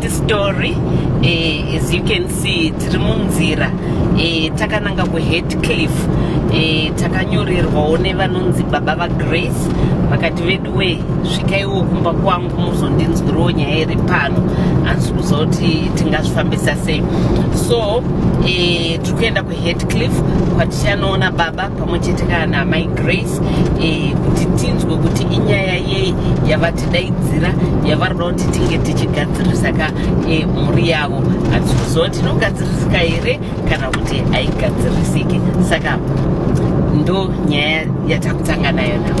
This story eh, as you can see tiri munzira eh, takananga kuheadcliff eh, takanyorerwawo nevanonzi baba vagrace vakati vedu we svikaiwo kumba kwangu muzondinzwiriwo nyaya iri pano hanzi kuza kuti tingazvifambisa sei so eh, tiri kuenda Headcliff kwatichanoona baba pamwe chete kana naamai Grace eh, kuti tinzwe kuti inyaya yei yavatidaidzira yavari kuda kuti tinge tichigadzirisa ka eh, mhuri yavo hatisi kuziva kuti inogadzirisika here kana kuti haigadzirisiki saka ndo nyaya yatakutanga nayo navo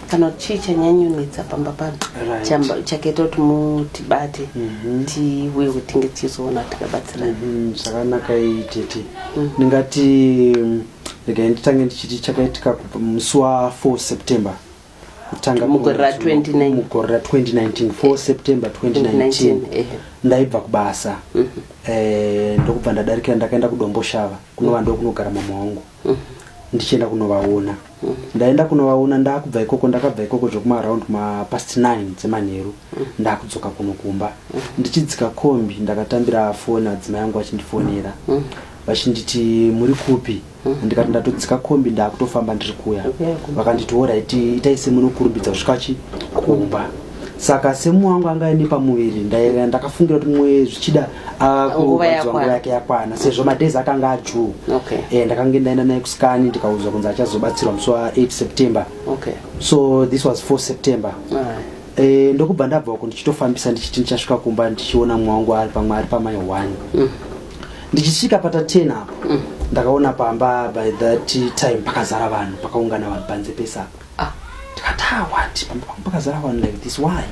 kana kuti chii chanyanyonetsa pamba pano chakaita kuti mutibate mhm. tiuye kuti tinge tichizoona tikabatsirana mhm, zvakanaka iyi tete mm. ndingati mm, regai nditange ndichiti chakaitika musi wa 4 september mugore ra 2019 4 september 2019 eh. ndaibva kubasa mhm. eh, ndokubva ndadarikira ndakaenda kudomboshava kunova ndokunogara mama wangu ndichienda kunovaona ndaenda kunovaona ndakubva ikoko ndakabva ikoko zvekumaround mapast 9 dzemanheru ndakudzoka kuno kumba ndichidzika kombi ndakatambira foni adzimai yangu vachindifonera vachinditi muri kupi ndikati ndatodzika kombi ndakutofamba ndiri kuya vakanditi orit itai semunokurumbidza kusvika chi kumba saka semu wangu anga aine pamuviri ndaiva ndakafungira kuti mwe zvichida nguva yake yakwana sezvo madhezi akanga ajuu okay. e, ndakange ndaenda naye kuskani ndikaudzwa kunzi achazobatsirwa musi wa 8 september okay. so this was 4 september right. e, eh, ndokubva ndabva uko ndichitofambisa ndichiti ndichasvika kumba ndichiona mwe wangu ari pamwe ari pamai one mm. ndichisvika pata 10 apo mm. ndakaona pamba by that time pakazara vanhu pakaungana vanhu panze pesapa ah ndikataa what pamba pangu pakazara vanhu like this why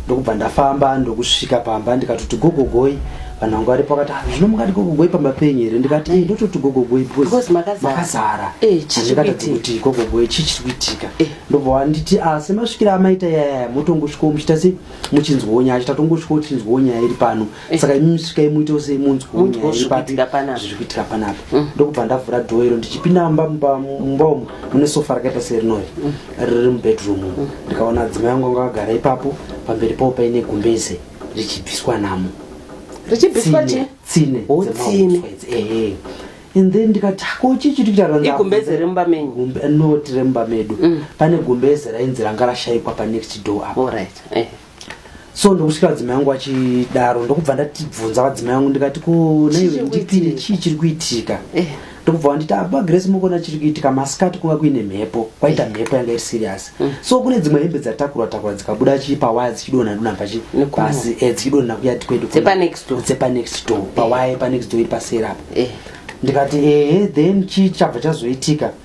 ndokubva ndafamba ndokusvika pamba ndikatoti gogogoi vanhu vangu varipo vakati ah, zvino mungati gogogoi pamba penyu here ndikati e ndototi gogogoi because makazara eh, andikatadzi kuti gogogoi chii chiri kuitika eh. ndobva wanditi ah, semasvikira amaita yaya motongosvikawo muchiita se muchinzwawo nyaya chitatongo svikawo chinzwawo nyaya iri pano Eh. saka imi svikai muitewo sei munzwewo Munzwewo nyaya zviri ipati kuitika panapa. zviri kuitika panapa Mm. ndokubva ndavhura dhoo iro ndichipinda mumba mumba mumba umu mune sofa rakaita serinori Mm. riri mubedroom umu ndikaona adzimai yangu anga akagara ipapo pamberi pavo paine gumbeze richibviswa namo richibviswa Tsine, chi tsine Oh, dzemahuswa tsine. idzi, ehe. and then ndikati hako chii chiri kuita ranza- igumbeze remumba menyu Gumbe- not remumba medu Mm. pane gumbeze rainzi ranga rashaikwa panext door apo Alright. Eh. so ndokusvika vadzimai vangu vachidaro ndokubva ndatibvunza vadzimai vangu ndikati ko naivendipinde chii chiri kuitika eh. ndokubva vanditi apa ah, grace mukona chiri kuitika masikati kunga kuine mhepo kwaita eh. mhepo yanga iri serious mm. so kune dzimwe hembe dzatakurwa takurwa dzikabuda chii pawaya dzichidonha dona pachi pasi eh, dzichidonha kuyati kwedu dzepanext door pawaya panext door iri paseri apa ndikati ehe then chii chabva chazoitika e,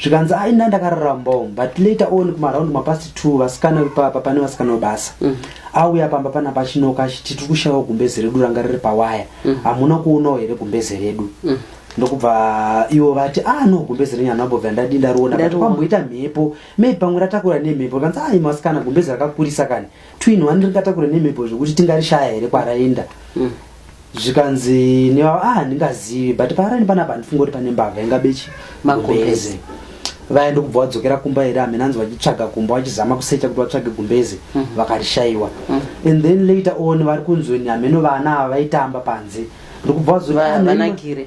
zvikanzi ai nda ndakarara mbom but later on kumaraundi mapast two vasikana vepapa pane vasikana vebasa mm. auya pamba pana pachinoka achiti tiri kushaiwa gumbeze redu ranga riri pawaya mm. hamuna mm. kuonawo here gumbeze redu mm ndokubva ivo vati ah no gumbezi renyu hanambobva ndadi ndariona kwamboita mhepo maybe pamwe ratakura nemhepo kanzi ai ah, masikana gumbezi rakakurisa kani twin one rikatakure nemhepo zvekuti tingarishaya here kwaraenda mm. zvikanzi nevavo ah ndingazivi but paaraini panapa handifunga kuti pane mbavha inga bechi magumbeze vaya ndokubva wadzokera kumba here hamene anzi vachitsvaga kumba vachizama kusecha kuti vatsvage gumbeze mm. vakarishaiwa mm. and then later on vari kunzweni hameno vana ava vaitamba panze ndokubva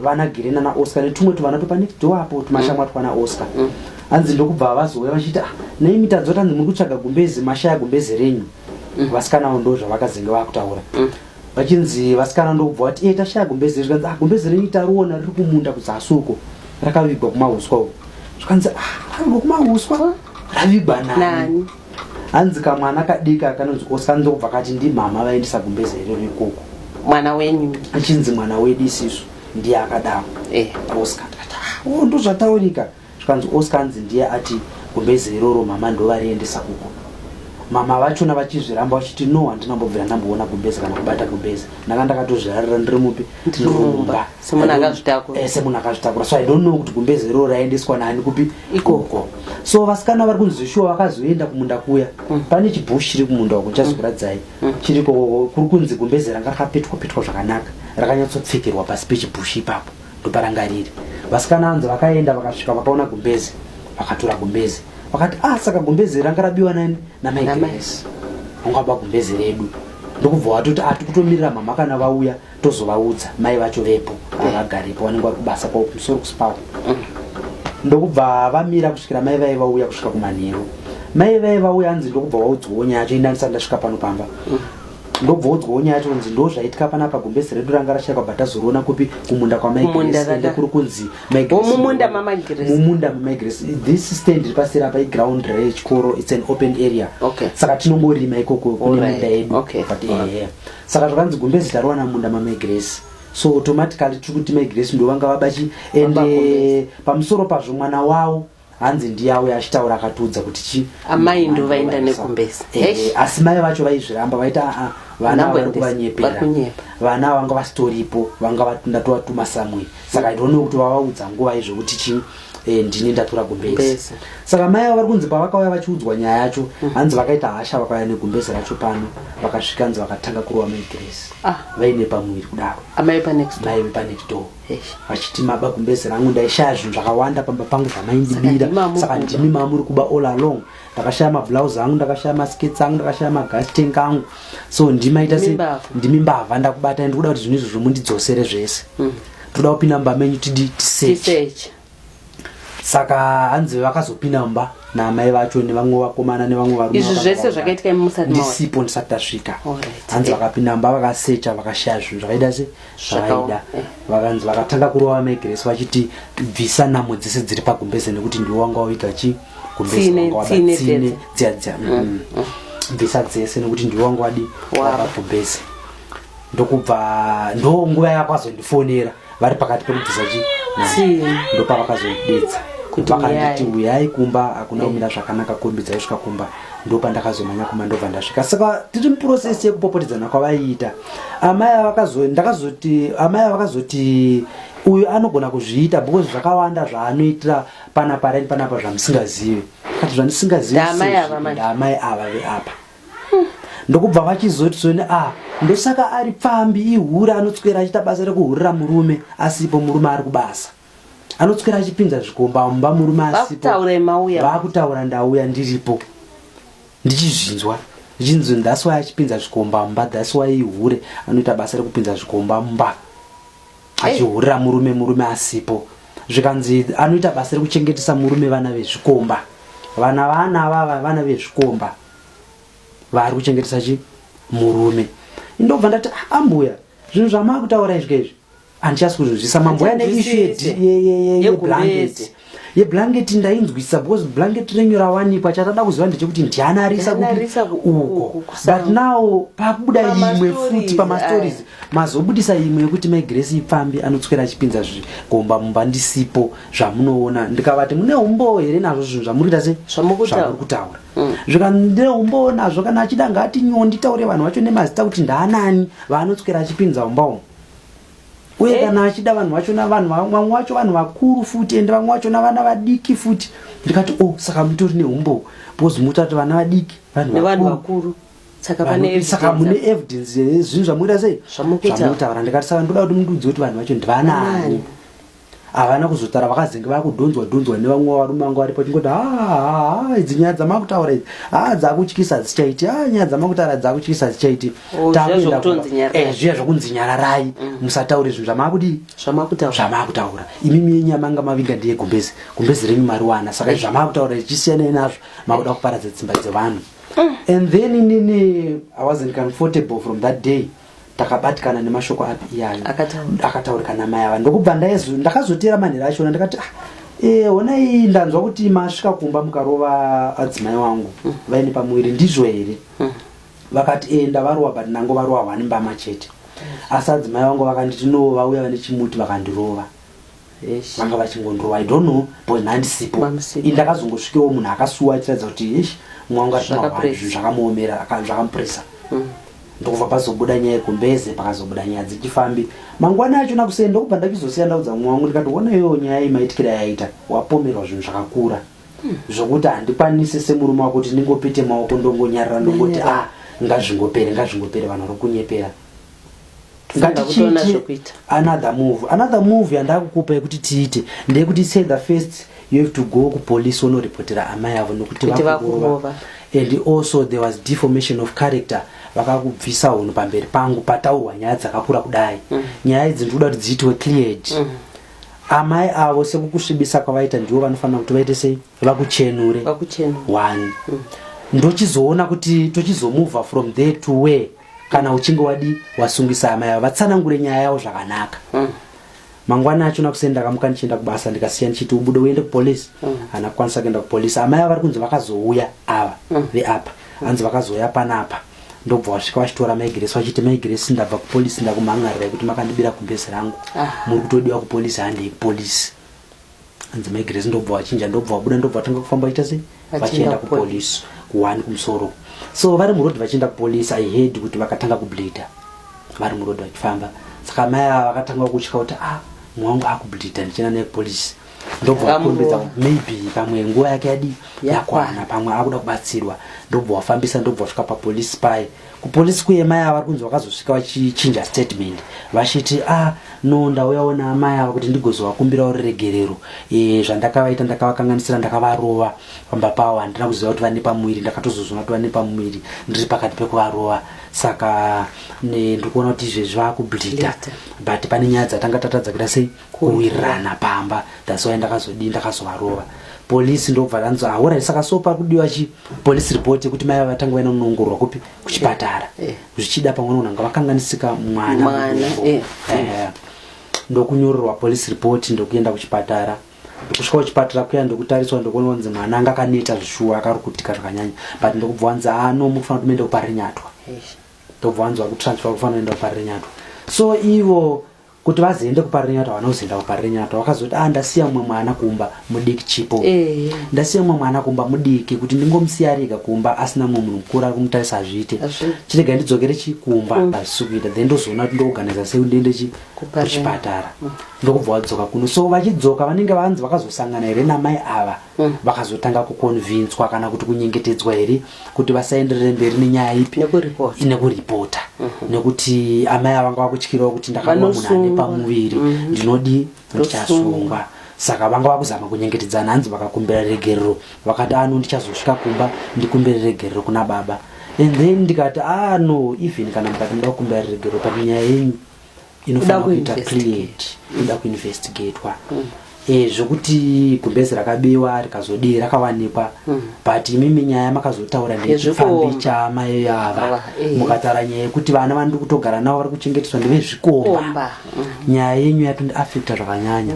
vanagire nana oscar netumwe tuvana topanext door apo tumashamwa mm. twana oscar mm. hanzi ndokubva vazouya vachiti ah, nei mitadzo tanzi muri kutsvaga gumbezi mashaya gumbezi renyu mm. vasikanavo ndo zvavakazenge vakutaura vachinzi vasikana ndokubva vati e eh, tashaya gumbezi renyu zvikanzi ah, gumbezi renyu tariona riri kumunda kudzasi uko rakavigwa kumahuswa uko zvikanzi ah, ravigwa kumahuswa ravigwa nani hanzi kamwana kadika kanonzi osandobva kati ndimama vaendesa gumbeze iro rekoko mwana wenyu achinzi mwana wedu isisu ndiye akadaro eh. oscar tikati ah, oh, ndozvataurika zvikanzi oscar anzi ndiye ati gumbeze iroro mama ndovariendesa kuko mama vachona vachizviramba vachiti no handina mbobvira ndamboona gumbeze kana kubata gumbeze ndanga ndakatozvirarira ndiri mupi ndiri mumba semunhu akazvitakura eh, semunhu akazvitakura so i don't know kuti gumbeze roo raendeswa nani kupi ikoko so vasikana vari kunzi shuwa vakazoenda kumunda kuya mm. pane chibush chiri kumunda uko ndichazokuradzai mm. mm. chiri koko kuri kunzi gumbeze ranga rakapetwa petwa zvakanaka rakanyatsopfekerwa pasi pechibush ipapo ndoparanga riri vasikana anzi vakaenda vakasvika vakaona gumbeze vakatora gumbeze vakati ah saka gumbeze ranga rabiwa nani namai grace ungaba gumbeze redu ndokubva watoti atikutomirira ah, mhamha kana vauya tozovaudza mai vacho vepo avagarepo vanenge vari kubasa kwavo kumusoro kuspau ndokubva vamira kusvikira mai vaye vauya kusvika kumanheru mai vaye vauya anzi ndokubva waudzwawo nyaya yacho indanisati ndasvika pano pamba ndobva udzwawo nyaya yacho kunzi ndo zvaitika pana pa gumbezi redu ranga rashayikwa bva tazoriona kupi kumunda kwamaiende kuri kunzi mumunda mamaigresi this stand iri paseri apa iground rechikoro its an open area saka tinongorima ikoko kune munda yedu but ehe saka zvakanzi gumbezi tarowana munda mamai grace so automatically tiri kuti mai grace ndovanga vabachi and eh, pamusoro pazvo mwana wavo hanzi ndiyavo yachitaura akatiudza kuti chi amai ndo vaenda nekumbesa eh, asi mai vacho vaizviramba vaita ah, ah, vana vari kuvanyepera vana vanga vasitoripo vanga ndatovatuma samwe saka idonno kuti vavaudza nguva izvo kuti chii e, ndini ndatura gumbezi saka mai avo vari kunzi pavakauya vachiudzwa nyaya yacho mm. hanzi vakaita hasha vakauya negumbezi racho pano vakasvika nzi vakatanga kurova mai grace ah. vaine pamuviri kudaro amai pamaive panext door vachiti maba gumbezi rangu ndaishaya zvinhu zvakawanda pamba pangu zvamaindibira saka ndimi mamuri kuba all along ndakashaya mablouse angu ndakashaya maskets angu ndakashaya magas tank angu so ndimaita se ndimi mbavha ndakubata ndi kuda kuti zvinhu izvozvo mundidzosere zvese mm. toda kupinda mumba menyu tidi tisearch saka hanzi vakazopinda mumba naamai vacho nevamwe vakomana nevamwe varumeizvi zvese zvakaitika imusati ndisipo ndisati tasvika hanzi vakapinda mumba vakasecha vakashaya zvinhu zvakaita se zvaaida vakanzi vakatanga kurova mai grace vachiti bvisa namo dzese dziri pagumbeze nekuti ndiwo wanga waviga chi gumbezetsine dziya dziya mm, mm. mm. bvisa dzese nekuti ndiwo wanga wadi wapagumbeze ndokubva ndo nguva yakwazondifonera vari pakati pekubvisa chi ndopavakazondidedza vakanditi uyai kumba akuna kumira zvakanaka kombi dzaisvika kumba ndopandakazomanya kumba ndobva ndasvika saka tiri muprocess yekupopotedzana kwavaiita amai avakazo ndakazoti amai avakazoti uyu anogona kuzviita because zvakawanda zvaanoitira pana parent panapa zvamusingazivi kati zvandisingaziviamai ava veapa ndokubva vachizoti soni a ah, ndosaka ari pfambi ihura anotswera achiita basa rekuhurira murume asipo murume ari kubasa anotswera achipinza zvikomba mumba murume asipobakutaura ndauya ndiripo ndichizvinzwa ndichinzi that's why achipinza zvikomba mumba that's why ihure anoita basa rekupinza zvikomba mumba achihurira murume murume asipo zvikanzi anoita basa rekuchengetesa murume vana vezvikomba vana vana vava vana vezvikomba vaari kuchengetesa chi murume ndobva ndati ah, ambuya zvinhu zvamava kutaura izvi kaizvi andichasi kuzvizvisa mambo yane ishu yeblanketi yeblanketi ndainzwisa because blanketi renyu rawanikwa chatada kuziva ndechekuti ndiani arisa uko but now pakubuda imwe futi pamastories mazobudisa imwe yekuti mai grace ipfambi anotswera achipinza zvigomba mumba ndisipo zvamunoona ndikavati mune umbowo here nazvo zvinhu zvamuri kuita sezvamuri kutaura mm. zvika ndine umbowo nazvo kana achida ngaati nyondi taure vanhu vacho nemazita kuti ndaanani vaanotswera achipinza umba umu uye kana achida vanhu vachona vanhu vamwe wacho vanhu vakuru futi ende vamwe vachona vana vadiki futi ndikati o oh, saka mutori neumbowo because muta kuti vana vadiki vanhu vakuru saka mune evidence zvinhu zvamuita sei zvamuitaura ndikati saka ndoda kuti mundudzi kuti vanhu vacho ndivanaani havana kuzotara vakazenge vakudhonzwa dhonzwa nevamwe varume vangu varipo chingoti haa idzi nyaya dzamakutaura idzi haa dzakutyisa hadzichaiti haa nyaya dzamakutaura dzakutyisa hadzichaiti oh, eh, zviya zvokunzi nyararai mm. musataure zvinhu zvamakudii zvamakutaura imimi yenyu yamanga mavinga ndiye gumbezi gumbezi renyu mariwana saka zvamakutaura ichisiyanai nazvo makuda kuparadza dzimba dzevanhu mm. and then inini i wasn't comfortable from that day takabatikana nemashoko api iyayo akataurika namai ava ndokubva ndakazoteera manhero achona ndakati ah, e, honai ndanzwa kuti masvika kumba mukarova adzimai wangu mm. vaine pamuviri ndizvo here mm. vakati e, ndavarowa but nango varowa hwani mbama chete mm. asi adzimai wangu vakanditi no vauya vane chimuti vakandirova Eish. vanga vachingondrova i don't know but nhandisipo Pamusipo. ini ndakazongosvikewo munhu akasuwa achiratidza kuti eish mwangu ari Zvakapress. kumahwani zvinhu zvakamuomera aka- zvakamupurisa ndokubva pazobuda nyaya yekumbeze pakazobuda nyaya dzechifambi mangwana acho nakuseni ndokubva ndachizosiya ndaudza mumwe wangu ndikati ona iyoyo nyaya imaitikira yaita wapomerwa zvinhu zvakakura zvokuti handikwanise semurume wako kuti ndingopete maoko ndongonyarara ndongoti Ndonyarara. ah ngazvingopere ngazvingopere vanhu vari kunyepera ngatichiite another move another move yandakukupa yekuti tiite ndeyekuti say the first you have to go kupolice wonoripotera amai avo nokuti vakurova and also there was deformation of character vakakubvisa hunhu pamberi pangu pataurwa nyaya dzakakura kudai mm. nyaya idzi ndikuda kuti dziitiwe cleared mm. amai avo sekukusvibisa kwavaita ndivo vanofanira kuti vaite sei vakuchenure one mm. ndochizoona kuti tochizomova from there to where kana uchinge wadi wasungisa amai avo vatsanangure nyaya yavo zvakanaka mm. mangwana acho nakuseni ndakamuka ndichienda kubasa ndikasiya ndichiti ubude uende kupolice mm. ana kukwanisa kuenda kupolice amai avo vari kunzi vakazouya ava mm. veapa mm. anzi vakazouya panapa ndobva wasvika vachitora maigiresi vachiti maigiresi ndabva kupolice ndakumhan'arira kuti makandibira kugezi rangu ah. muri kutodiwa kupolice handei kupolice hanzi mai grace ndobva vachinja ndobva vabuda ndobva vatanga kufamba vachiita sei vachienda kupolice kuwani kumusoro so vari muroad vachienda kupolice i heard kuti vakatanga kubleeda vari muroad vachifamba saka mai ava vakatanga kutya kuti ah mwangu akubleeda ndichienda naye kupolice ndobva vakurumbidza maybe pamwe nguva yake yadi yakwana pamwe akuda kubatsirwa ndobva wafambisa ndobva wasvika papolice paye kupolisi kuye mai ava vari kunzi vakazosvika vachichinja statement vachiti a ah, no ndauyawo naamai ava kuti ndigozovakumbirawo ruregerero e, zvandakavaita ndakavakanganisira ndakavarova pamba pavo handina kuziva kuti vane pamuviri ndakatozozvona kuti vane pamuviri ndiri pakati pekuvarova saka ndiri kuona kuti izvezvi vava kubleeda but pane nyaya dzatanga tatadza kuita sei kuwirirana pamba that's why ndakazodii ndakazovarova polisi ndobva ranzi ahora saka so pari kudiwa chi polisi report yekuti mai vavatanga vaina kunoongororwa kupi kuchipatara eh, eh. zvichida pamwe nonanga vakanganisika mwana eh, ndokunyorerwa polisi report ndokuenda kuchipatara kusvika kuchipatara kuya ndokutariswa ndokuona kunzi mwana anga akaneta zvishuwa akarukutika zvakanyanya but ndokubva wanzi ano ah, mukufanira kutoenda kuparinyatwa ndobva wanzi wakutransfer kufanira kuenda kuparinyatwa so ivo kuti vazoende kuparirenyatwa vana kuzoenda kuparirenyatwa vakazoti a ah, ndasiya mumwe mwana kumba mudiki chipo eh. ndasiya mumwe mwana kumba mudiki kuti ndingomusiya ariga kumba asina mumwe munhu mukuru ari kumutarisa hazviite chirega ndidzokere chi kumba mm. hazvisi kuita then ndozoona kuti ndooganiza sei kuti ndiende chi kuchipatara mm. ndokubva vadzoka kuno so vachidzoka vanenge vanzi vakazosangana here namai ava Mm. vakazotanga kukonvinswa kana kuti kunyengetedzwa here kuti vasaenderere mberi nenyaya ipi nekuripota mhm. nekuti amai avanga vakutyirawo kuti ndakawa munhu ane pamuviri mhm. ndinodi ndichasungwa saka vanga vakuzama kunyengetedzana hanzi vakakumbira regerero vakati ano ah, ndichazosvika kumba ndikumbire regerero kuna baba and then ndikati ano ah, even kana mukati muda kukumbira regerero pane nyaya yenyu inofanira kuita create inoda kuinvestigatwa mm. eh, zvekuti gumbezi rakabiwa rikazodii rakawanikwa mm. but imimi nyaya makazotaura ndechipfambi chamai ava eh. mukataura nyaya yekuti vana vanoda kutogara navo vari kuchengeteswa ndevezvikomba mm. nyaya yenyu yapindaafecta zvakanyanya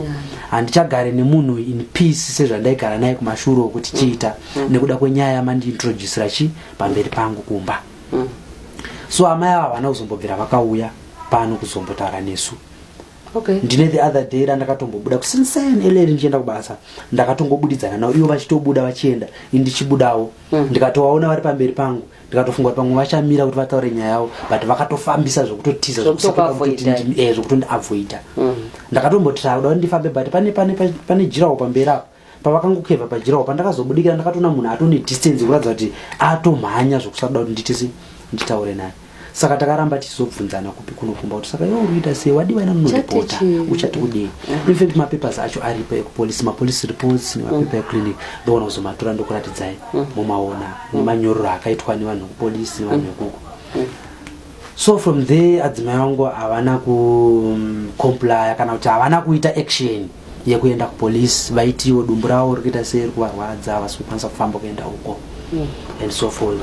handichagare nemunhu in peace sezvandaigara naye kumashuro okuti chiita nekuda kwenyaya yamandiintroducira chi pamberi pangu kumba mm. mm. so amai ava havana kuzombobvira vakauya pano kuzombotaura nesu okay. ndine the other day randakatombobuda kusinsen eleri ndichienda kubasa ndakatongobudidzana navo ivo vachitobuda vachienda indichibudawo mm. ndikatovaona vari pamberi pangu ndikatofunga kuti pamwe vachamira kuti vataure nyaya yavo but vakatofambisa zvekutotiza zvekutondiavoida eh, mm. ndakatombotisakuda kuti ndifambe but pane jirawo pamberi apo pavakangokeva pajirawo pandakazobudikira ndakatoona munhu atone distance kuratidza kuti atomhanya zvokusakuda kuti nditisi nditaure naye saka takaramba tichizobvunzana kupi kunokumba kuti saka iwe urikuita sei wadiwa ina nonodipota uchati kudii infact mapapers acho aripo ekupolice mapolice reports nemapepa mm. eclinic ndoona kuzomatora ndokuratidzai mm. mumaona mm. nemanyororo akaitwa nevanhu vekupolice nevanhu vekuko so from there adzimai vangu havana kucomplya kana kuti havana kuita action mm. yekuenda kupolice vaitiwo dumbu ravo rikuita seri kuvarwadza havasi kukwanisa kufamba kuenda uko mm. and so forth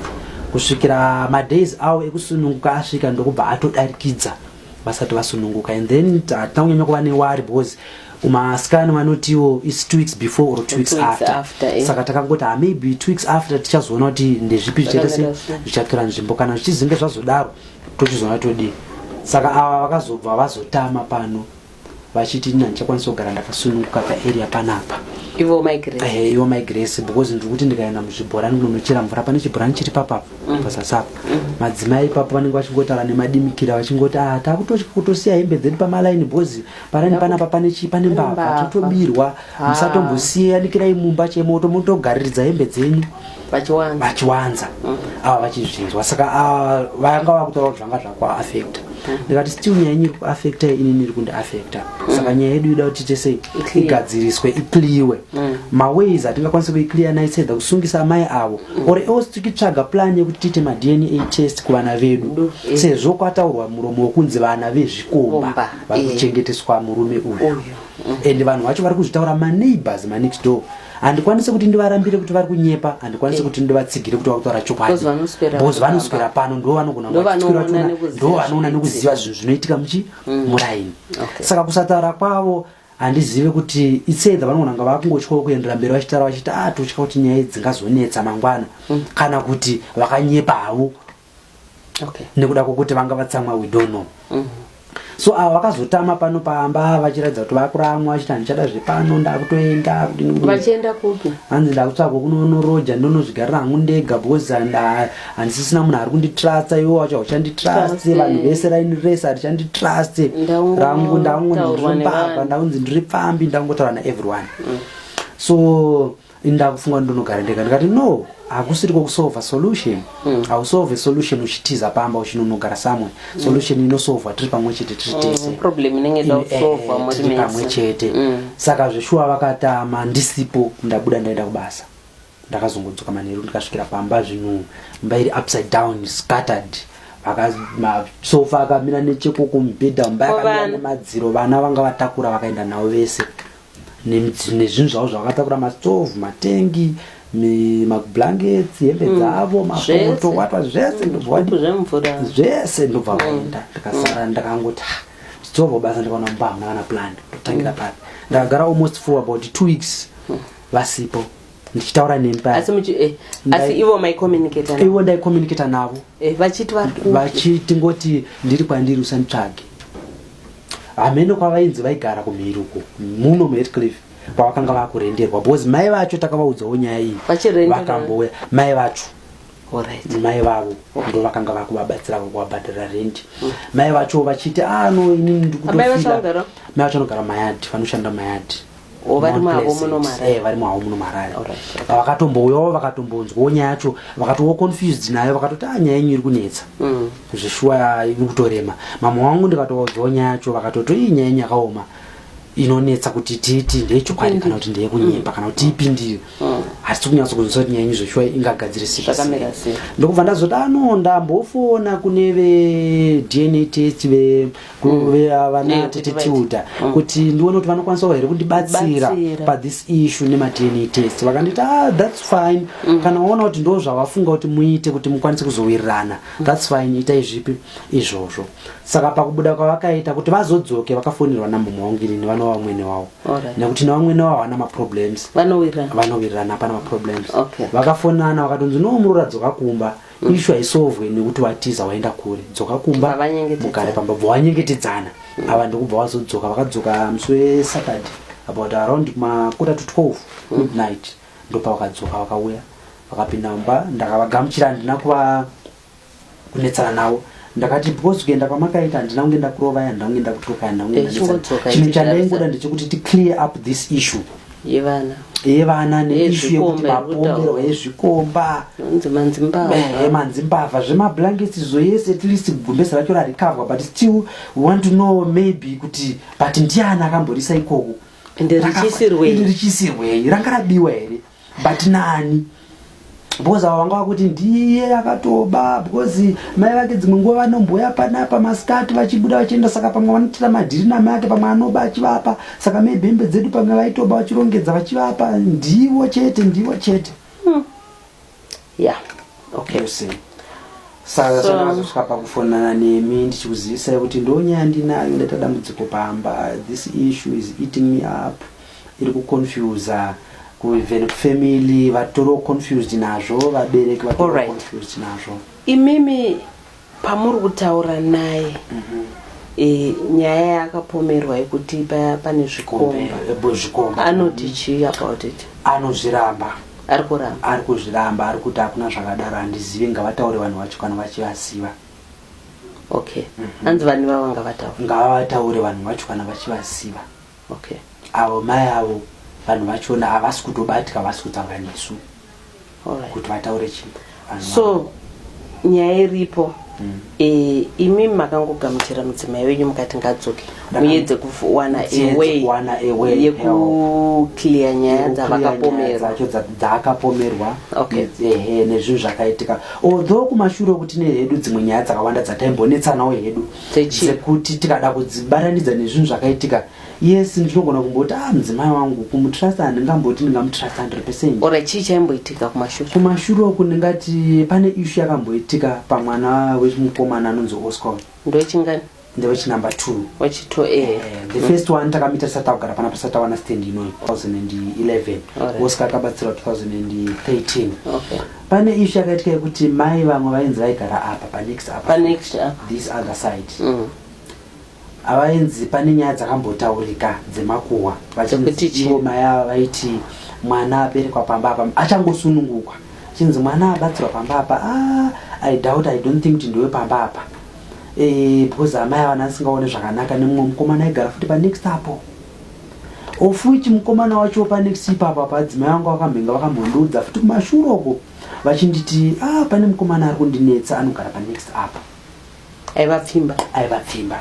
kusvikira madays avo ekusununguka asvika ndokubva atodarikidza vasati vasununguka and then hatina kunyanya kuva newari because umaskani vanotiwo its two weeks before or two weeks after, after eh. saka takangoti ah, maybe two weeks after tichazoona kuti ndezvipi zvichaita se zvichatora nzvimbo kana zvichizinge zvazodaro tochizoona todii saka ava vakazobva vazotama pano vachiti ini handichakwanisa kugara ndakasununguka paarea panapa ivo mai grace Eh, ivo mai grace because ndiri kuti ndikaenda muzvibhorani kunonochera mvura pane chibhorani chiri papapa Mm. pasasapa Mhm. madzimai ipapo vanenge vachingotaura nemadimikira vachingoti ah takutotya kutosiya hembe dzedu pamalaini because parani panapa pane chii pane Pane mbavha mbavha." totobirwa Ah. musatombosiye yanikirai mumba chemoto motogariridza hembe dzenyu vachiwanza mm. ava vachizvinzwa saka ah, vanga vakutaura kuti zvanga zvakuaafecta mm. ndikati still nyaya yenyu iri kuafecta inini iri kundiafecta mm. saka nyaya yedu ida kuti tiite sei igadziriswe ikliwe maways atingakwanise kuikliya naisedha kusungisa amai avo or else tikitsvaga plan yekuti tiite madna test kuvana vedu eh. sezvo kwataurwa muromo wekunzi vana vezvikomba vakuchengeteswa murume uyu and vanhu vacho vari kuzvitaura maneighbors manext door handikwanise kuti ndivarambire kuti vari kunyepa handikwanise kuti ndivatsigire kuti vakutaura chokwadi bcause vanoswera pano ndo vanogona ndo vanoona nekuziva zvinhu zvinoitika muchi mm. muraini saka kusataura kwavo handizive kuti itsedha vanogona nga vakungotyawo kuendera mberi vachitaura vachiti atotya ah, kuti nyaya dzingazonetsa mangwana mm. kana kuti vakanyepa havo okay. nekuda kwokuti vanga vatsamwa we don't know mm -hmm so ava vakazotama pano pamba vachiratidza kuti vakuramwa vachiti handichada zvepano ndakutoenda vachienda kupi hanzi ndakutsvagwa kunonoroja ndonozvigarira hangu ndega because handisisina munhu ari kunditrusta iwo wacho hauchanditrust vanhu vese raini rese harichanditrust rangu ndakungondiropamba ndakunzi ndiri pfambi ndakungotaura naeveryone mm. so ini ndakufunga kuti ndonogara ndega ndikati no hakusiri kokusolva solution mm. hausolve solution uchitiza pamba uchinonogara samwe mm. solution inosolvwa tiri pamwe chete tiri mm, tese tiri pamwe chete mm. saka zveshuwa vakatama ndisipo ndabuda ndaenda kubasa ndakazongodzoka manheru ndikasvikira pamba zvinhu mba iri upside down scattered masofa akamira nechekoko mubhedha mba yakamira nemadziro vana vanga vatakura vakaenda navo vese nezvinhu zvavo zvavakatakura mastove matengi mablankets hembe mm. dzavo mapoto wata zvese zvese ndobva mm. vaenda ndikasara mm. ndakangoti ah, zvidzorwa basa ndikaona mumba hamuna kana plan ndotangira papi ndakagara almost for about two weeks vasipo ndichitaura nemi paya asi muchi eh, Ndai- asi ivo mai communicator ivo ndaicommunicata navo eh, vachiti vari ku vachiti ngoti ndiri kwandiri usanditsvage hameno kwavainzi vaigara kumhiri uko muno muhetcliff kwavakanga vakurenderwa because mai vacho takavaudzawo nyaya iyi Vachirenderwa. vakambouya mai vacho alright mai vavo ndo vakanga vakuvabatsira vakuvabhadhara rendi mai vacho vachiti ah no inini Amai vacho ndikutofila vanogara? mai vacho vanogara mayadhi vanoshanda mayadhi Oh, vari Mount mavo Pleasant. muno Marara. Eh, vari mavo muno marara Alright, okay. vakatombouyawo vakatombonzwawo nyaya yacho vakatowo confused nayo vakatoti ah nyaya yenyu iri kunetsa Mm. zveshuwa iri kutorema mama wangu ndikatovaudzawo nyaya yacho vakatoti iyi nyaya yenyu yakaoma inonetsa kuti tiiti ndeyechokwadi kana kuti ndeyekunyepa kana kuti tiipindire hatisi kunyatso kunzwisa kuti nyaya yenyu zveshuwa ingagadzirisika Zvakamira sei? ndokubva ndazoti ano ndambofona kune vedna test ve kuvana tete tiuta kuti ndione kuti vanokwanisawo here kundibatsira pathis issue nemadna test vakanditi ah thats fine mm. kana waona kuti ndo zvavafunga kuti muite kuti mukwanise kuzowirirana mm. thats fine itai zvipi izvozvo saka pakubuda kwavakaita kuti vazodzoke vakafonirwa namumwe wangirini vanova vamwene wavo nekuti nevamwene wavo havana maproblems vanowirirana hapana maproblems vakafonana vakatonzi no muroradzoka kumba okay. mm. ishu haisovwe nekuti watiza waenda kure dzoka kumba mugare pamba bva wanyengetedzana mm. ava ndokubva wazodzoka vakadzoka musi wesaturday about around makota to 12 mm. midnight mm. ndopa vakadzoka vakauya vakapinda mumba ndakavagamuchira handina kuva kunetsana navo ndakati because kuenda kwamakaita handina kunge ndakurovai handina kunge ndakutuka handina kunge eh, ndaisa chimwe chandaingoda ndechekuti ticlear up this issue yevana yevana neishu yekuti mapomerwa ezvikomba manzimbavha zvemablankets izo yese at least gumbesa racho rarikavwa but still want to know maybe kuti but ndiani akamborisa ikoko ende richisirwei ranga rabiwa here but nani because ava vanga vakuti ndiye akatoba because mai vake dzimwe nguva vanomboya panapa masikati vachibuda vachienda saka pamwe vanotiita madhiri namai ake pamwe anoba achivapa saka maybe hembe dzedu pamwe vaitoba vachirongedza vachivapa ndivo chete ndivo chete hmm. yeah okay saka so, ndazosvika pakufonana nemi ndichikuzivisai kuti ndonyaya ndinayo ndaita dambudziko pamba this issue is eating me up iri kuconfusa even family vatori confused nazvo vabereki vatori confused nazvo imimi pamuri kutaura naye mm -hmm. e, nyaya yaakapomerwa yekuti paya pane zvikomba anoti chii about it anozviramba ari kuramba ari kuzviramba ari kuti hakuna zvakadaro handizivi ngavataure vanhu vacho kana vachivaziva okay mm -hmm. anzi vanhu vavo ngavataure ngavataure vanhu vacho kana vachivaziva Okay avo mai avo vanhu vachona havasi kutobatika havasi kutaura nesu right. kuti vataure chii so nyaya iripo mm. e, imi makangogamuchira mudzimai wenyu mukati ngadzoke muedze kuwana away yekuclear nyaya dzavakapomerwacho dzaakapomerwa nezvinhu zvakaitika although kumashure okuti nehedu dzimwe nyaya dzakawanda dzataimbonetsanawo hedu dzekuti tikada kudzibatanidza nezvinhu zvakaitika yes ndinogona kumboti ah mudzimai wangu kumutrasta handingamboti ndingamutrasta hundred percent ora chii chaimboitika kumashure kumashure uku ndingati pane ishu yakamboitika pamwana wemukomana anonzi oscom ndowechingani ndewechinumber two wechito e eh, the first one takamita tisati tagara pana tisati tawana stand inoyi 2011 oscar akabatsirwa 2013 okay Pane issue yakaitika yekuti mai vamwe vainzi vaigara apa panext apa. Panext apa. This other side. Mm. Avainzi pane nyaya dzakambotaurika dzemakuhwa vachinzi ivo mai ava vaiti mwana aberekwa pamba apa achangosunungukwa chinzi mwana abatsirwa pamba apa ah, i doubt i don't think kuti ndiwe pamba apa e, because amai avana asingaone zvakanaka nemumwe mukomana aigara futi panext apo of which mukomana wacho panext ipapa padzimai vangu vakamhenga vakamhondoudza futi kumashure uko vachinditi ah, pane mukomana ari kundinetsa anogara panext apa aivapfimba aivapfimba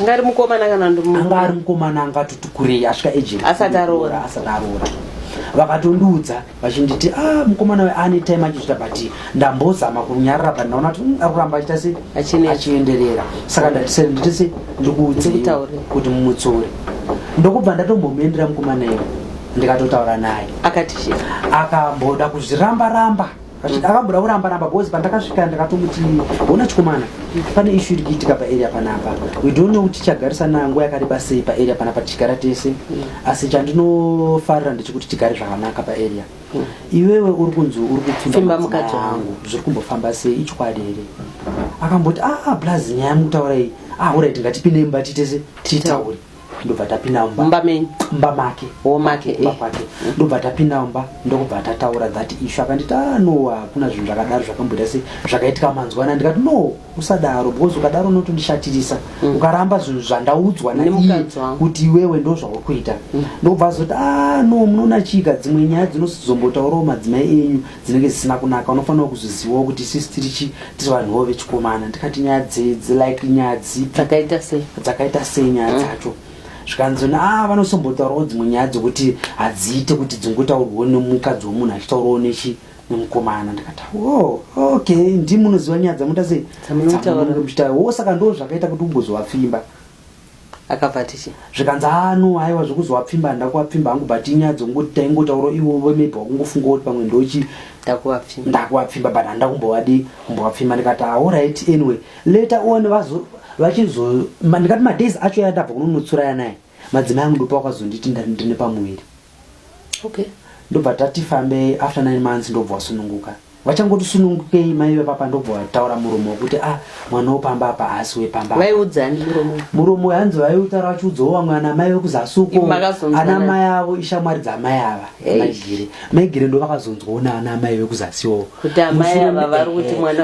anga ari mukomana kana anga ari mukomana angatoti kurei asvika ejenasati aroora asati aroora vakatondiudza vachinditi ah mukomana uyu ane time achizvita but ndambozama kunyarara but ndaona kuti mm, ari kuramba achita se Achine- achienderera saka ndatisere nditi se ndikuudze Ndikutaure. kuti mumutsore ndokubva ndatombomuendera mukomana iwe ndikatotaura naye akati chii akamboda kuzviramba ramba Achiti, akamboda kuramba ramba because pandakasvika ndakatomuti hona chikomana pane ishu iri kuitika paarea panapa we don't know kuti tichagarisana nguva yakareba sei paarea panapa tichigara tese asi chandinofarira ndechekuti tigare zvakanaka paarea mm. iwewe uri kunzi uri kupfimba mukati wangu zviri kumbofamba sei ichokwadi here akamboti aa ah, ah, plus nyaya yamukutaura iyi ahurai ah, tingatipinde imba titese titaure ndobva tapinda mumba menyu mumba make womake mumba eh. kwake ndobva tapinda mumba ndokubva tataura that issue akanditi ah no hakuna zvinhu zvakadaro zvakamboita sei zvakaitika manzwana ndikati no usadaro because ukadaro unotondishatirisa mm. ukaramba zvinhu zvandaudzwa naiye kuti iwewe ndo zvauri kuita mm. ndokubva azoti a ah, no munoona chika dzimwe nyaya dzinozombotaurawo madzimai enyu dzinenge zisina kunaka unofanira kuzvizivawo kuti sisi tiri chi tiri vanhu vo vechikomana ndikati nyaya dzedzi like nyaya dzipi dzakaita sei dzakaita sei nyaya mm. dzacho mm zvikanzona a ah, vanosombotaurawo dzimwe nyaya dzokuti hadziite kuti dzingotaurwawo nemukadzi womunhu achitaurawo nechi nemukomana ndikati wo ok ndi munoziva nyaya dzamuita sei dzamunoita wo saka ndo zvakaita kuti umbozovapfimba akabva tichi zvikanzi ano ah, aiwa zvekuzovapfimba handakuvapfimba hangu but inyaya dzongoti taingotauro iwo maybe wakungofunga kuti pamwe ndochi ndakuvapfimba but handa kumbovadi kumbovapfimba ndikati aorit ah, anyway later on vazo vachizo ndikati madays acho yandabva kunonotsura yanaye madzimai angu ndopa wakazonditi ndari ndine pamuviri okay ndobva tati fambei after nine months ndobva wasununguka vachangoti sunungukei mai vepapa ndobva vataura muromo wekuti ah mwana wepamba apa haasi wepamba vaiudzani muromo muromo hanzi vaiutaura vachiudzawo vamwe ana mai vekuzasuko ana mai avo ishamwari dzamai ava maigire maigire ndo vakazonzwawo naana mai vekuzasiwo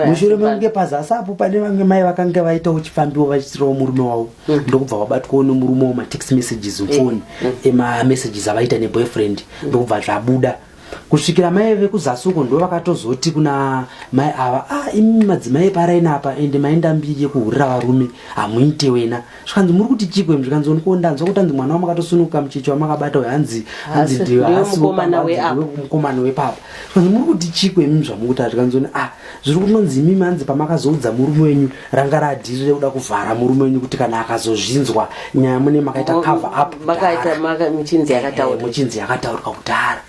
mushure mekunge pazasi apo pane vange mai vakange vaitawo chifambiwo vachitirawo murume wavo Mm. ndokubva wabatwawo nemurume wo matext messages mfoni mm. emamessages mm. avaita neboyfriend mm. ndokubva zvabuda kusvikira mai vekuzasi uko ndo vakatozoti kuna mai ava a ah, imi madzimai eparaina apa ende maenda mbiri yekuhurira varume hamuite wena zvikanzi muri kuti chikwe zvikanzi oniko ndanzwa kuti anzi mwana wamakatonsunuka mucheche wamakabata uyo hanzi hanzimukomana wepapa zvikanzi muri kuti chikwe imi zvamukutaura zvikanzi a ah, zviri kunonzi imimi hanzi pamakazoudza murume wenyu ranga radhiri rekuda kuvhara murume wenyu kuti kana akazozvinzwa nyaya mune makaita cover up muchinzi eh, yakataurwa kudhara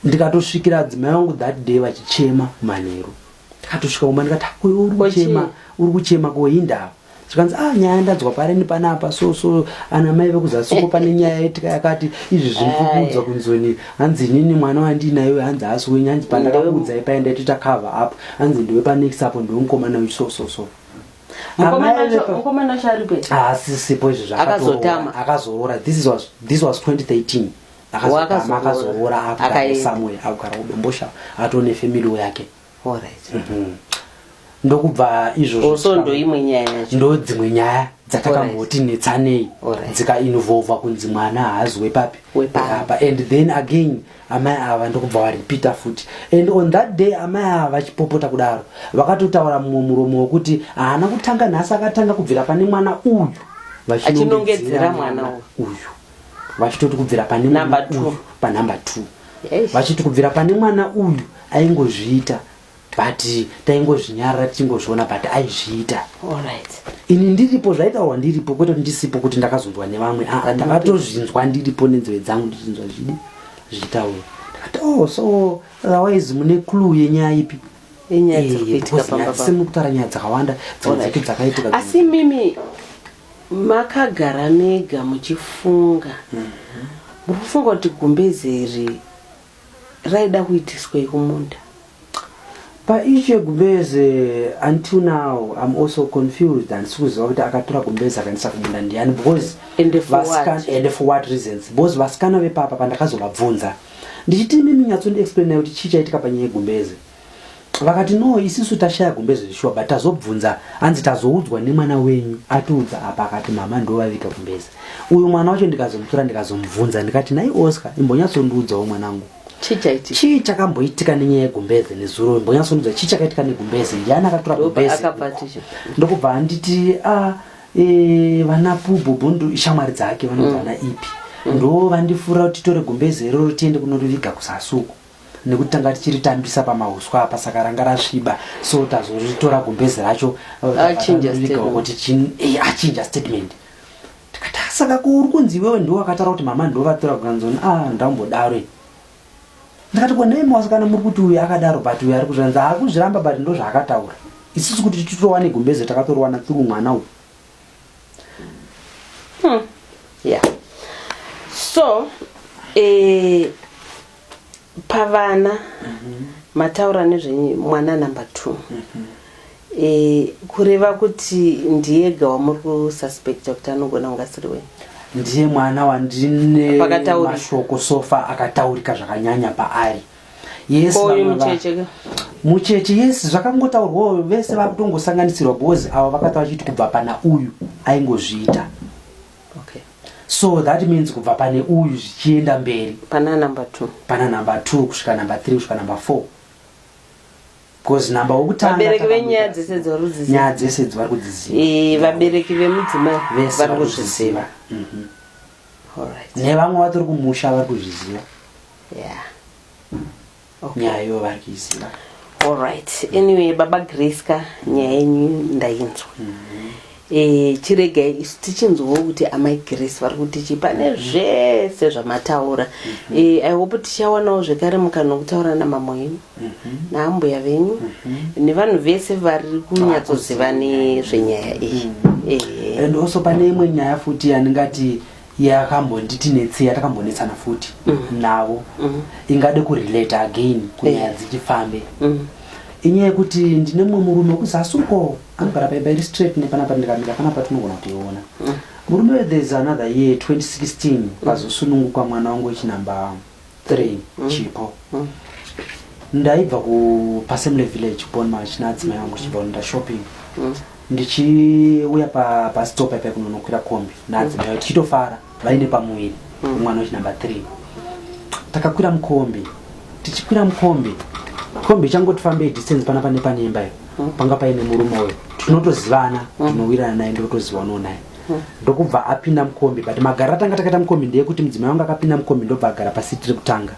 ndikatosvikira adzimai vangu that day vachichema manheru ndikatosvika kumba ndikati uyo uri kuchema uri kuchema kohindava zvikanzi ah nyaya ndanzwa pari nepanapa so so ana mai vekuzasuko pane nyaya yetika yakati izvi zvinikuudza kunzoni hanzi inini mwana wandinayo hanzi haasi wenyu hanzi pandakakuudzai paye ndaitoita cover up hanzi ndiwe panext apo ndiwe mukomana uyu so so so haasisipo ah, izvi zvakazoroora this was 2013 akazoora akugara somewhere akugara kudombosha atone family yake ndokubva izvozvo ndoimwe nyaya yacho ndodzimwe nyaya dzatakamboti netsanei dzikainvolva kunzi mwana haazwe papi apa and then again amai ava ndokubva varipita futi and on that day amai ava vachipopota kudaro vakatotaura mumwe muromo wekuti haana kutanga nhasi akatanga kubvira pane mwana uyu vachinongedzera mwana uyu vachitoti kubvira pane Number two. uyu panumber two Eish. vachiti kubvira pane mwana uyu aingozviita but taingozvinyarara tichingozviona but aizviita Alright. ini ndiripo zvaitaurwa ndiripo kwete kuti ndisipo kuti ndakazonzwa nevamwe aa ndakatozvinzwa ndiripo nenzeve dzangu ndichinzwa zvidi zvichitaurwa ndakati oh so otherwise mune clue yenyaya ipi Inyaya dziri Eh, kuitika because pamba nyaya- pamba. semukutaura nyaya dzakawanda dzimwe Alright. dzacho dzakaitika asi mimi Makagara mega muchifunga muri kufunga kuti gumbeze iri raida kuitiswei kumunda? Paissue yegumbeze until now I'm also confused handisi kuziva kuti akatora gumbeze akaendesa kumunda ndiani because Ende for what? vasikana ende for what reasons because vasikana vepapa pandakazovabvunza ndichiti imimi nyatsondi explainai kuti chii chaitika panyaya yegumbeze vakati no isisu tashaya gumbeze zvishuwa but tazobvunza hanzi tazoudzwa nemwana wenyu atiudza apa akati mama ndovaviga gumbeze uyu mwana wacho ndikazomutora ndikazomubvunza ndikati nai oscar imbonyatsondiudzawo mwanangu chii chakamboitika nenyaya yegumbeze nezuro imbonyatsondiudza chii chakaitika negumbeze ndiani akatora gumbeze ndokubva anditi a ah, e, vana pububundu ishamwari dzake vanodzana mm. ipi ndo vandifura kuti tore gumbeze iroro tiende kunoriviga kusasuku nekuti tanga tichiritambisa pamahuswa apa saka ranga rasviba so tazoritora gumbezi racho kuti eh, achinja statement tikati ah, saka ko uri kunzi iwewe ndiwo wakataura kuti mama ndovatora kukanzoni a ah, ndambodaro ndikati ko nei mawasikana muri kuti uyu akadaro but uyu ari kuzviranzi akuzviramba but ndo zvaakataura isusu kuti titowane gumbezi takatorowana through mwana uyu hmm. yeah so eh, pavana mhm. mataura nezvemwana number two mhm. e, kureva kuti ndiyega wamuri kususpecta kuti anogona kunge asiri wenyu ndiye mwana wandine mashoko sofa akataurika zvakanyanya paari mucheche yes zvakangotaurwawo vese vakutongosanganisirwa because avo vakata vachiti kubva pana uyu aingozviita Okay. So that means kubva pane uyu zvichienda mberi. Pana number 2. Pana number 2 kusvika number 3 kusvika number 4. Because number wokutanga vabereki venyaya dzese dzorudzi. Nyaya dzese dzvari kudziziva. Eh, vabereki vemudzimai vari kuzviziva. Mhm. All right. Nevamwe vatori kumusha vari kuzviziva. Yeah. okay. nyaya ivo vari kuiziva allright mm. anyway baba grace ka nyaya yenyu ndainzwa mm -hmm. e, chiregai isu tichinzwawo kuti amai grace vari kutichi pane mm-hmm. zvese zvamataura mm -hmm. e, eh, ihope tichawanawo zvekare mukana wekutaura namamo yenyu mm -hmm. naambuya venyu mm -hmm. nevanhu vese vari kunyatsoziva nezvenyaya iyi mm -hmm. e. and also pane imwe nyaya futi yandingati yakambonditi netsi yatakambonetsana futi mm. navo mm. ingade kurelate again kunyaya yeah. dzichifambe mm. inyaya yekuti ndine mumwe murume wekuzasi uko anogara paimba iri straight nepanapa ndikamira panapa tinogona kuiona mm. murume wethes another year 2016 mm. pazosunungukwa mwana wangu wechinamba three mm. chipo mm. ndaibva kupasemle village bonmach naadzimai angu chibva kunoita shopping mm. ndichiuya pastop pa paikunonokwira kombi naadzimai mm. tichitofara vaine pamuviri mm. mwana wechi number three takakwira mukombi tichikwira mukombi kombi ichangoti fambei distance pana pane panemba iyo mm. panga paine murume uyo tinotozivana mm. tinowirana naye ndotoziva unonaye ndokubva apinda mukombi but magara atanga takaita mukombi ndeyekuti mudzimai wangu akapinda mukombi ndobva agara pasiti rekutanga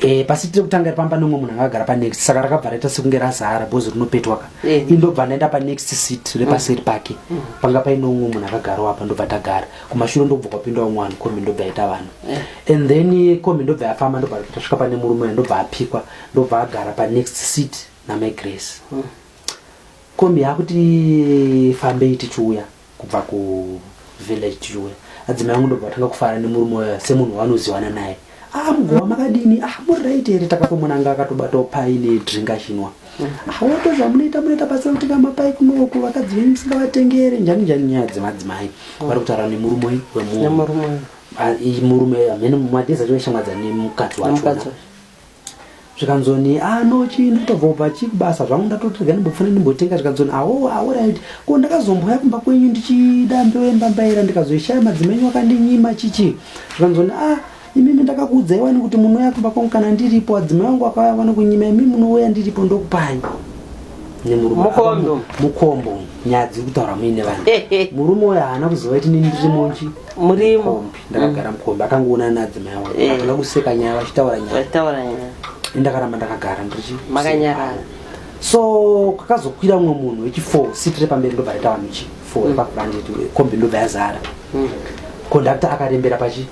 e, pasiti rekutanga iri pamba nomwe munhu anga agara panext saka rakabva raita sekunge razara bhozi rinopetwaka eh. i ndobva ndaenda panext sit repaseri pake mm. panga paine umwe munhu akagarawo apa ndobva tagara kumashure ndobva kwapinda umwe vanhu kombi ndobva yaita vanhu eh. and then kombi ndobva yafamba ndobva tasvika pane murume uya ndobva apikwa ndobva agara panext sit namagrace mm. Kombi yakuti fambei tichiuya kubva ku village tichiuya. Adzimai vangu ndobva vatanga kufara nemurume waya semunhu wanoziwana naye. Ah mugova makadini? Ah muri right here takatomonanga akatobatawo pai ne drink achinwa. Ah woto zvamunoita munoita pasina kuti kama pai kunoku vakadzi venyu musingavatengere njani njani nyaya dzemadzimai. Vari kutaura nemurume wemunhu. Nemurume. Ah, i- murume amene madhezi acho vaishamwadza nemukadzi wacho. Nemukadzi wacho. zvikanzoni ah no chii ndotobvobva chii kubasa zvangu ndatoti regai ndimbopfana ndimbotenga zvikanzoni awo ah, awo ah, right ko ndakazombouya kumba kwenyu ndichida mbeu yembambaira ndikazoishaya madzimenyu akandinyima chichi zvikanzoni a ah, imimi ndakakuudzai wani kuti munouya kumba kwangu kana ndiripo adzimai wangu akauya wani kunyima imi munouya ndiripo ndokupai mukombo nyadzi kutaura muine vanhu murume uyo haana kuzova iti nini ndiri monji murimo ndakagara mukombi akangoona naadzimai awo eh. atoda kuseka nyaya vachitaura nyayataura nyaya ndakaramba ndakagara ndichi makanyarara so kakazokwira mumwe munhu wechifour sit repamberi ndobva raita vanhu chifour mm. pakurandetu kombi ndobva yazara mm. kondakta akarembera pachi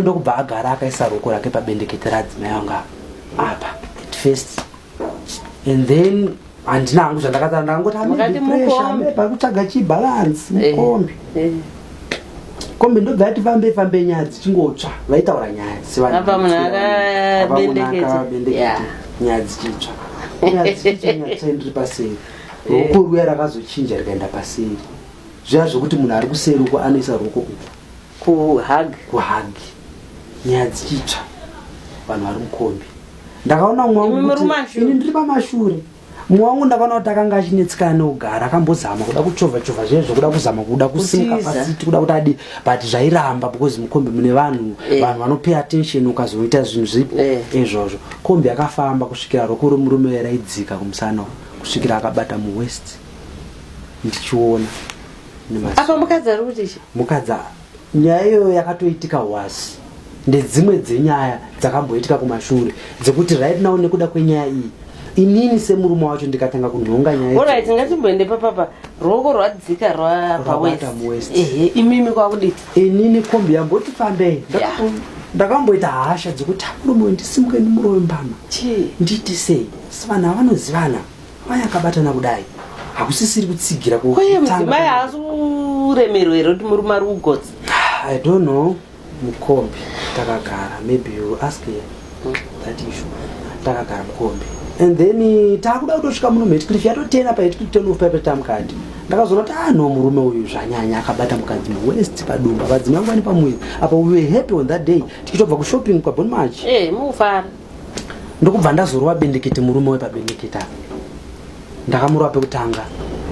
ndokubva agara akaisa ruoko rake pabendekete radzimai anga apa at first and then handina hangu zvandakataura ndakangoti amepakutsvaga chibalance eh, mukombi eh. kombi ndobva yati fambe fambe nyaya dzichingotsva vaitaura nyaya sevanhuabendeketa nyaya dzichitsva ndiri paseri eh. ruoko ruya rakazochinja rikaenda paseri zviya zvokuti munhu ari kuseri uko anoisa ruoko kupa kuhagi nyaya dzichitsva vanhu vari mukombi ndakaona umwe wangu Imimi kuti- rumashure. ini ndiri pamashure umwe wangu ndakaona kuti akanga achinetseka anogara akambozama kuda kuchovhachovha zviye zvekuda kuzama kuda kusimuka Kutiza. pasiti kuda kuti adi but zvairamba because mukombi mune vanhu Eh. vanhu vanopay attention ukazoita zvinhu zvipo Eh. izvozvo kombi yakafamba kusvikira roko remurume uya raidzika kumusana uku, kusvikira akabata muwest ndichiona nemaziso. apa mukadzi ari kuti chi mukadzi Nyaya iyoyo yakatoitika wasi ndedzimwe dzenyaya dzakamboitika kumashure dzekuti right now nekuda kwenyaya iyi inini semurume wacho ndikatanga kunhonga nyaya orit ngatimboende papapa ruoko rwadzika rwapawest ehe imimi kwakudii inini kombi yamboti fambei ndakamboita hasha dzekuti murume ndisimuke ndimurowe mbama ndiiti sei sivana vanozivana mai akabatana kudai hakusisiri kutsigira kwaye mudzimai haasi kuremerwa here kuti murume ari kugotsi i don't know mukombi takagara maybe you ask that issue takagara mukombi and then eh, taakuda kutosvika muno muhetcliff yatotena pahetcliff tenof paipe tamukati ndakazoona kuti ah no murume uyu zvanyanya akabata mukadzi muwest padumba vadzimai vangu vane pamuviri apa we were happy on that day tichitobva kushopping kwabon march hey, eh, mufara ndokubva ndazorova bendekete murume wepabendekete apa ndakamurova pekutanga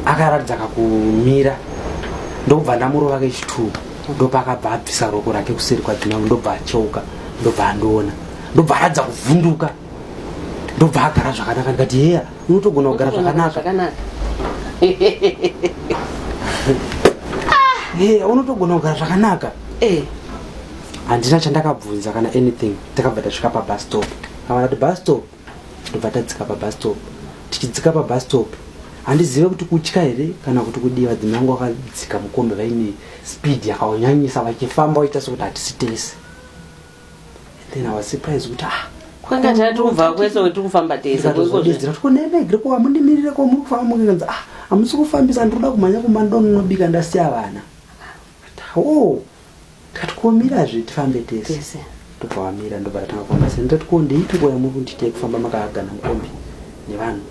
akaratidza kakumira ndokubva ndamurova kechitwo ndopakabva abvisa roko rake kuseri kwadzimambo ndobva acheuka ndobva andiona ndobva aratidza kuvhunduka ndobva agara zvakanaka ndikati heya unotogona kugara zvakanaka heya unotogona kugara zvakanaka eh. handina chandakabvunza kana anything takabva tasvika pabus stop kavana kuti bus stop ndobva tadzika pabus stop tichidzika pabus stop handizive kuti kutya here kana kuti kudii vadzimi vangu vakadzika mukombe vaine speed yakanyanyisa vachifamba vaita sekuti hatisi tese then i was surprise kuti ah kwanga tati kubva kwese wetiri kufamba teseezira kuti kunemegre ko amundimirire ko muri kufamba mukanzi ah hamusi kufambisa ndinoda kumhanya kumba ndononobika ndasiya vana oh Ndikati ko mirazve tifambe tese. Tese. Ndobva vamira ndobva tatanga kufamba seni ndati ko ndeitiko yamuri kunditi yekufamba makahagana mukombi nevanhu.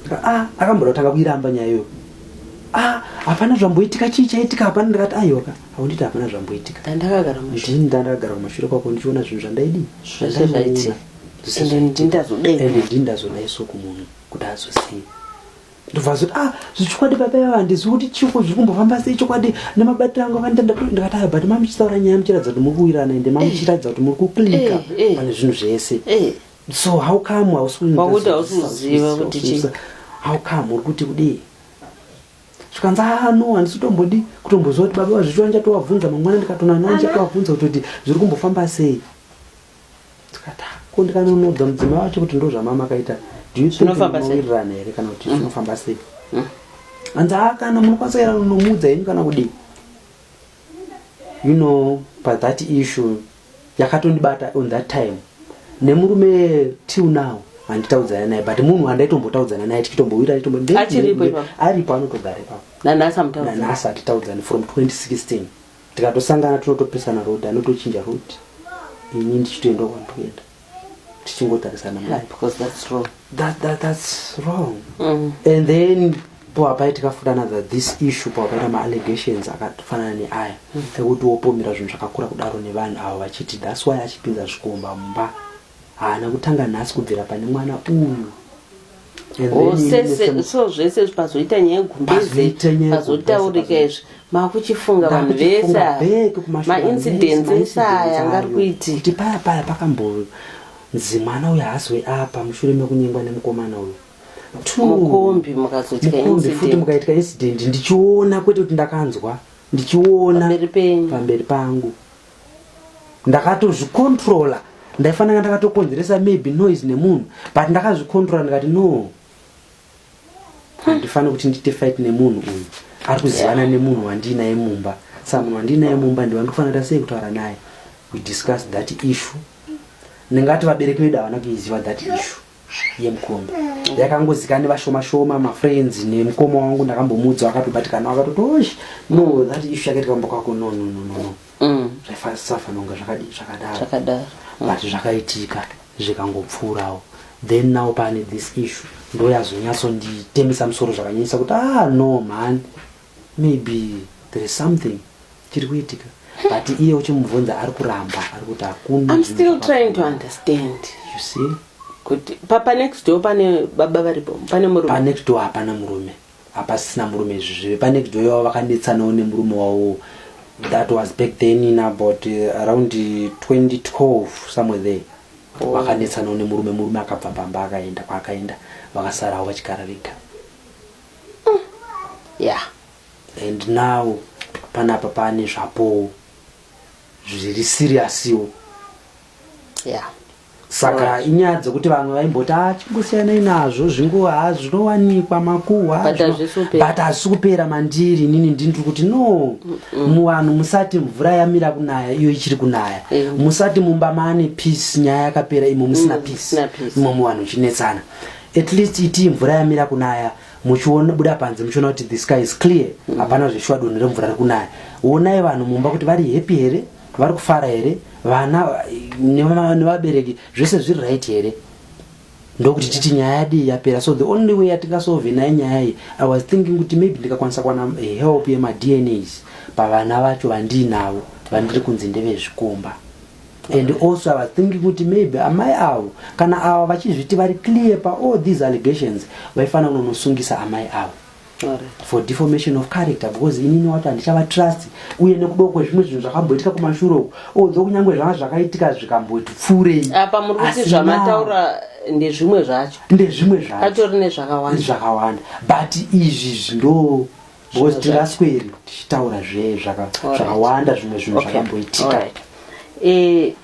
Ndikati ah akamboda kutanga kuiramba nyaya iyoyo. Ah hapana zvamboitika chii chaitika hapana ndikati aiwa ka haunditi hapana zvamboitika. Ndandakagara kumashure. Ndini ndandakagara kumashure kwako ndichiona zvinhu zvandaidii. Zvese zvaitika. Ende ndini ndazodai. Ende ndini ndazodai so kumunhu kuti azoziva. ndobva zoti ah zvechokwadi baba ivava handizivi kuti chiko zviri kumbofamba sei chokwadi nemabatiro angu avanita ndikati aya but mamuchitaura nyaya muchiratidza kuti muri kuwirana ende mamuchiratidza kuti muri kuklika Eh, eh. pane zvinhu zvese Eh, so how come hausi kunyika Pakuti zvinhu hausi zvese, kuziva hausi kuti kuziva, chii. hausi kuziva. how come uri kuti kudii zvikanzi ah no handisi kutombodi kutomboziva kuti baba vazvichiwa ndichatovabvunza mangwana ndikatona navo ndichatovabvunza kutoti zviri kumbofamba sei ko ndikanonodza mudzimai wacho kuti ndo zvamamakaita dinowirirana here kana kuti mm. zvinofamba sei mm. hanzi haa kana munokwanisa kuera nomuudza henyu kana kudii you know but that issue yakatondibata on that time nemurume till now handitaudzana naye but munhu handaitombotauzana naye tichitombowira aripo anotogara ipapo nanhasi atitaudzani from 2016 Tikatosangana tinotopesana road anotochinja road ini ndichitoenda kwandikuenda tichingotarisana mari yeah, because that's wrong that, that, that's wrong mm. and then poapai tikafudana that this issue poapaita maallegations akafanana neaya mm. ekuti wopomera zvinhu zvakakura kudaro nevanhu avo vachiti that's why achipinza zvikomba mumba haana kutanga nhasi kubvira pane mwana uyu so zvese pazoita nyaya yegumbeze pazotaurika izvi makuchifunga vanhu vese maincidence ese aya angari kuiti kuti paya paya pakamboyo nzi mwana uyo haazoi apa mushure mekunyengwa nemukomana uyo mukombi mukazotiamukombi futi mukaitwa incident ndichiona kwete kuti ndakanzwa ndichiona pamberi pangu ndakatozvicontrola ndaifanira ndakatokonzeresa maybe noise nemunhu but ndakazvicontrola ndikati no handifani kuti ndiite fight nemunhu uyu ari kuzivana nemunhu wandiinaye mumba sa munhu wandiinaye mumba ndiwa ndikufanira sei kutaura naye we discuss that issue ndingati vabereki vedu havana kuiziva that issue yemukombe yakangozikana nevashoma shoma mafriends nemukoma wangu ndakambomuudza akatobatikana akatoti osh no that issue yakaita kamba kwako no no no no no Mm. zvaisafanira kunge zvakadi zvakadaro Zvakadaro. but zvakaitika zvikangopfuurawo then now pane this issue ndoyazonyatsonditemesa musoro zvakanyanyisa kuti ah no mhani Maybe there is something chiri kuitika but iye uchimubvunza ari kuramba ari kuti hakuna I'm still trying to understand you see kuti papa next door pane baba varipo pane murume pa next door hapana murume hapasisina murume izvi zvive pa next door yavo vakanetsanawo nemurume wavo that was back then in about uh, around 2012 somewhere there oh. vakanetsanawo nemurume murume akabva pamba akaenda kwaakaenda vakasarawo vachigara vega mm. yeah and now panapa pane zvapowo zviri siriyasiwo yeah saka inyaya dzekuti vamwe vaimboti achingosiyanai ah, nazvo zvinguva ah, zvinowanikwa makuhwa but hazvisi kupera mandiri inini ndindiri kuti no muvanhu musati mvura yamira kunaya iyo ichiri kunaya eh. musati mumba maane peace nyaya yakapera imo musina mm, peace imo muvanhu uchinetsana at least itii mvura yamira kunaya muchiona buda panze muchiona kuti the sky is clear mm. hapana mm. zveshuwa dunhu remvura riri kunaya onai vanhu mumba kuti vari happy here vari kufara here vana nevabereki zvese zviri right here ndokuti titi nyaya yadii yapera so the only way yatingasove naye nyaya iyi i was thinking kuti maybe ndikakwanisa kuwana eh, help yemadnas pavana vacho vandiinavo vandiri kunzi ndevezvikomba and also i was thinking kuti maybe amai avo kana ava vachizviti vari clear paall these allegations vaifanira kunonosungisa amai avo for deformation of character because inini wati handichavatrust uye nekudo kwezvimwe zvinhu zvakamboitika kumashure uku although kunyange zvanga zvakaitika zvikamboti pfuurei apa muri kuti zvamataura ndezvimwe zvacho ndezvimwe zvacho atori nezvakawanda zvakawanda but izvi zvindo because tirasweri tichitaura zve zvakawanda zvimwe zvinhu zvakamboitika eh,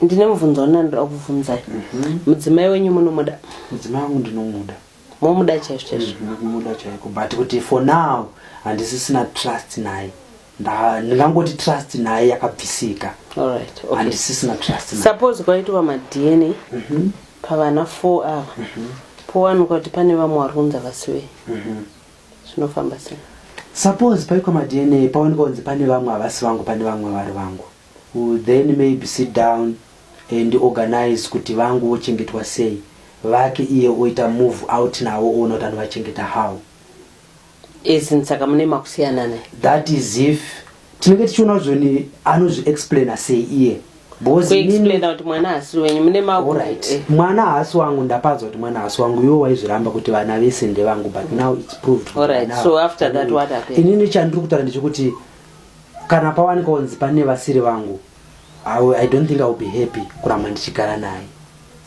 ndine mubvunzo wani andida kuvhunzai mhm. mudzimai wenyu munomuda mudzimai wangu ndinomuda momuda chaizvo chaizvo ndinomuda mhm, chaiko but kuti for now handisisina trust naye ndingangoti trust naye yakabvisika handisisina trust suppose kwaitwa madna mhm. pavana four ava powanikwa kuti pane vamwe vari kunzi vasiwei zvinofamba sei suppose paikwa madna paonekwa kunzi pane vamwe havasi vangu pane vamwe vari vangu then maybe sit down and organize kuti vangu vochengetwa sei vake iye oita move out navo oona kuti anovachengeta how as in saka mune makusiyana ne that is if tinenge tichiona zvoni anozvi explaina sei iye eh. mwana haasi wangu ndapaza kuti mwana haasi wangu iwo waizviramba kuti vana vese ndevangu but now its proved inini chandiri kutaura ndechekuti kana pawanika onzi pane vasiri vangu i don't think iwill be happy kuramba ndichigara naye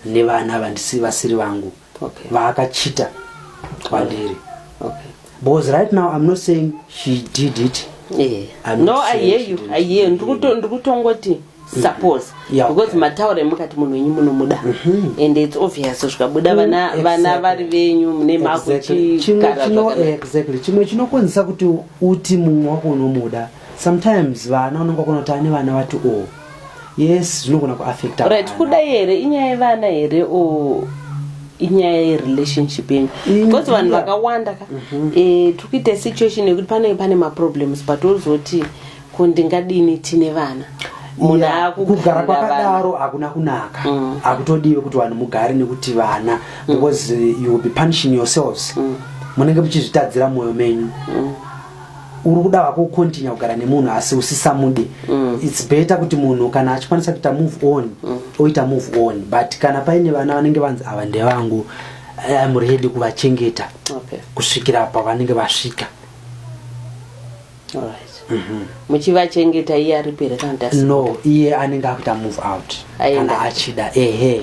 nevana vandisi vasiri vangu okay. vaakachita kwandiri okay. because right now i'm not saying she did it yeah. no i hear you i hear ndiri kutongoti mm -hmm. Mm-hmm. suppose yeah, because okay. mataura emukati munhu wenyu munomuda mm -hmm. and its obvious zvikabuda mm, vana mm, vana exactly. vari venyu mune makuchigara exactly chimwe chinokonzesa kuti uti mumwe wako unomuda sometimes vana unenge wakona kuti ane vana vati o yes zvinogona kuaffecta right kudai here inyaya yevana here o inyaya yerelationship yenyu because vanhu vakawanda ka mhm. eh, tiri kuita situation yekuti panenge pane maproblems but ozoti ko ndingadini tine vana kugara kwakadaro hakuna kunaka mm. hakutodiwe kuti vanhu mugare nekuti vana mm. because you will be punishing yourselves mm. munenge muchizvitadzira mwoyo menyu uri kuda hako ukontinya kugara nemunhu asi usisamude mm. its better kuti munhu kana achikwanisa kuita move on mm. oita move on but kana paine vana vanenge vanzi ava ndevangu im ready kuvachengeta okay. kusvikira pavanenge vasvika mhm. muchivachengeta iye aripere no iye anenge akuita move out kana achida ehe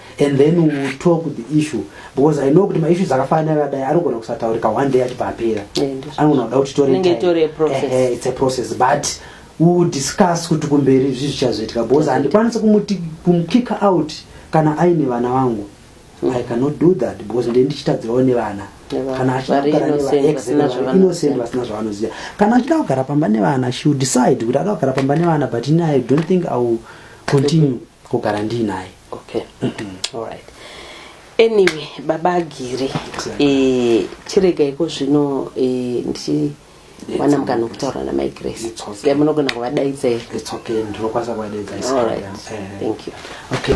and then we will talk the issue because i know kuti maissues akafanana akadai anogona kusataurika one day achibva apera anogona kuda kuti toreits a process but we will discuss kuti kumberi zvi zvichazoitika because handikwanisi kumuti kumukicka out kana aine vana vangu mm. i cannot do that because ndee ndichitadzirawo nevana kana achiainocent vasina zvavanoziva kana achida kugara pamba nevana she will decide kuti ada kugara pamba nevana but ini i don't think i will continue kugara ndiinaye okay all right anyway baba agiri exactly. e, eh, chirega iko zvino e, eh, ndichi wana mukana kutaura namai grace okay. munogona kuvadaidza here okay. ndinokwanisa kuvadaidza all right uh, thank you okay.